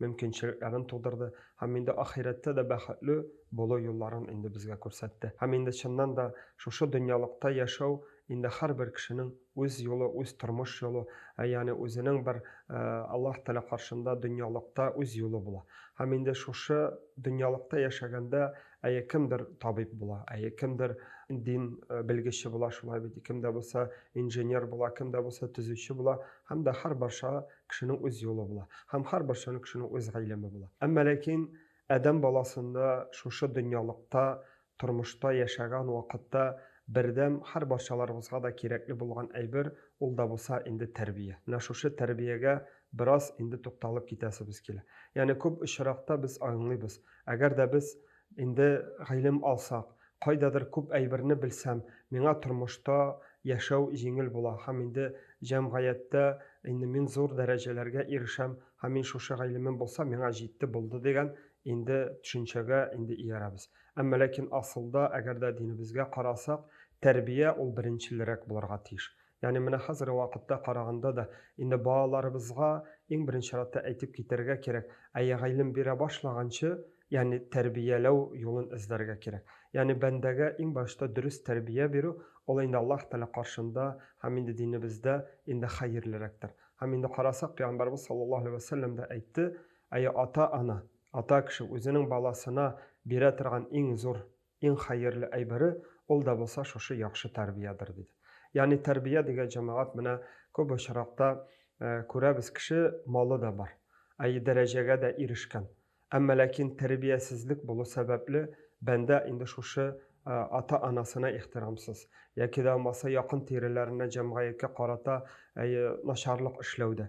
мөмкинчелекләрен тудырды һәм инде ахирәттә дә бәхетле булу юлларын инде безгә күрсәтте. Һәм инде чыннан да шушы дөньялыкта яшәү инде һәрбер кешенең үз юлы, үз тормыш юлы, ә ягъни үзенең бер Аллаһ Тәгалә каршында дөньялыкта үз юлы була. Һәм инде шушы дөньялыкта яшәгәндә әйе кемдер табиб була, әйе кемдер дин белгече була, шулай бит, кемдә булса инженер була, кемдә булса төзүче була һәм дә һәрбарча кешенең үз юлы була. Һәм һәрбер чын кешенең үз гыйлеме була. Әмма ләкин адәм баласында шушы дөньялыкта, тормышта яшәгән вакытта бердәм һәрбарчаларыбызга да кирәкле булган әйбер, ул да булса инде тәрбия. Менә шушы тәрбиягә бераз инде тукталып китәсебез килә. Ягъни күп очракта без аңлыйбыз, әгәр дә без Инде гыйлем алсак, кайдадыр күп әйберне белсәм, миңа тормышта яшәү җиңел була һәм инде җәмгыятьтә инде мин зур дәрәҗәләргә ирешәм һәм мин шушы гыйлемем булса, миңа җитте булды дигән инде төшенчәгә инде иярәбез. Әмма ләкин асылда, әгәр дә динебезгә карасак, тәрбия ул беренчелрәк булырга тиеш. Ягъни менә хәзерге вакытта караганда да, инде балаларыбызга иң беренче чиратта әйтеп китәргә кирәк, әйе, гыйлем бирә башлаганчы, ягъни тәрбияләү юлын эзләргә кирәк. Ягъни бәндәгә иң башта дөрес тәрбия бирү, ул инде Аллаһ Тәгалә каршында һәм инде динебездә инде хәерлерәктер. Һәм инде карасак, Пәйгамбәрбез саллаллаһу алейһи вә сәлләм дә әйтте, әйе, ата-ана, ата кеше үзенең баласына бирә торган иң зур Иң хәерле әйбере ул да булса шушы яхшы тәрбиядер, диде. Ягъни тәрбия дигән җәмәгать менә күп очракта күрәбез, кеше малы да бар, әйе, дәрәҗәгә дә ирешкән, әмма ләкин тәрбиясезлек булу сәбәпле бәндә инде шушы ата-анасына ихтирамсыз, яки дә булмаса якын-тиреләренә, җәмгыятькә карата, әйе, начарлык эшләүдә.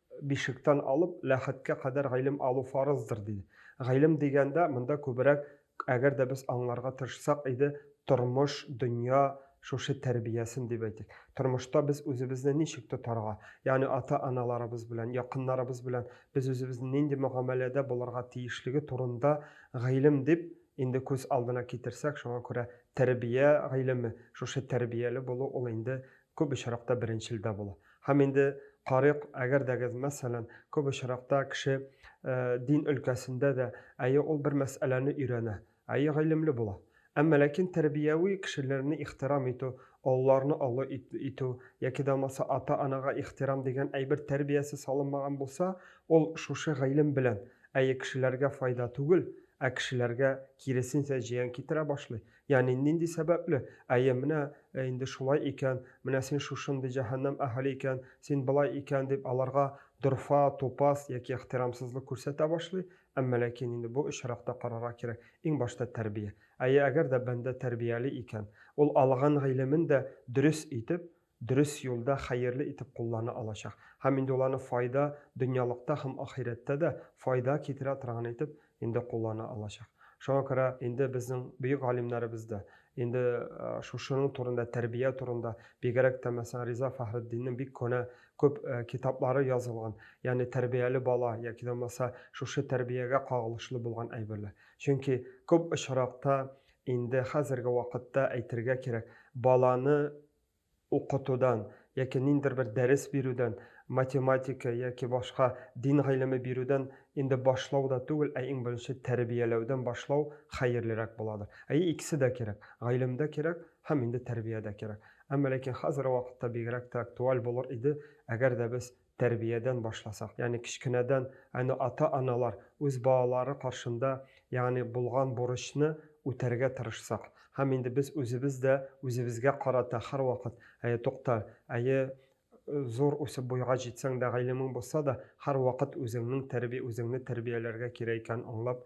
Бишектән алып Ләхеткә кадәр гыйлем алу фарыздыр, диде. Гыйлем дигәндә, монда күбрәк, әгәр дә без аңларга тырышсак иде, тормыш, дөнья шушы тәрбиясен дип әйтик. Тормышта без үзебезне ничек тотарга, ягъни ата-аналарыбыз белән, якыннарыбыз белән без үзебезне нинди мөгамәләдә булырга тиешлеге турында гыйлем дип инде күз алдына китерсәк, шуңа күрә тәрбия гыйлеме, шушы тәрбияле булу ул инде күп очракта беренчелдә була. Һәм инде карыйк, әгәр дәгез, мәсәлән, күп очракта кеше дин өлкәсендә дә, әйе, ул бер мәсьәләне өйрәнә, әйе, гыйлемле була. Әмма ләкин тәрбияви кешеләрне ихтирам итү, олыларны олы итү яки дә булмаса ата-анага ихтирам дигән әйбер тәрбиясе салынмаган булса, ул шушы гыйлем белән, әйе, кешеләргә файда түгел, ә кешеләргә киресенчә зыян китерә башлый. Ягъни нинди сәбәпле? Әйе, менә э, инде шулай икән, менә син шушындый җәһәннәм әһеле икән, син былай икән дип аларга дорфа, тупас яки ихтирамсызлык күрсәтә башлый. Әмма ләкин инде бу очракта карарга кирәк, иң башта тәрбия. Әйе, әгәр дә бәндә тәрбияле икән, ул алган гыйлемен дә дөрес итеп, дөрес юлда хәерле итеп куллана алачак һәм инде ул аны файда, дөньялыкта һәм ахирәттә дә файда китерә торган итеп инде куллана алачак. Шуңа күрә инде безнең бөек галимнәребез дә инде шушының турында, тәрбия турында, бигрәк тә мәсәлән Риза Фәхретдиннең бик көнә күп китаплары язылган, ягъни тәрбияле бала яки дә булмаса шушы тәрбиягә кагылышлы булган әйберләр. Чөнки күп очракта инде хәзерге вакытта әйтергә кирәк, баланы укытудан яки ниндидер бер дәрес бирүдән, математика яки башка дин гыйлеме бирүдән инде башлау да түгел, ә иң беренче тәрбияләүдән башлау хәерлерәк буладыр. Әйе, икесе дә кирәк, гыйлем дә кирәк һәм инде тәрбия дә кирәк. Әмма ләкин хәзерге вакытта бигрәк тә актуаль булыр иде, әгәр дә без тәрбиядән башласак, ягъни кечкенәдән әнә ата-аналар үз балалары каршында, ягъни булган бурычны үтәргә тырышсак, һәм инде без үзебез дә үзебезгә карата һәрвакыт, әйе, тукта, әйе, зур үсеп буйга җитсәң дә, гыйлемең булса да, һәрвакыт үзеңнең тәрби үзеңне тәрбияләргә кирәк икәнен аңлап,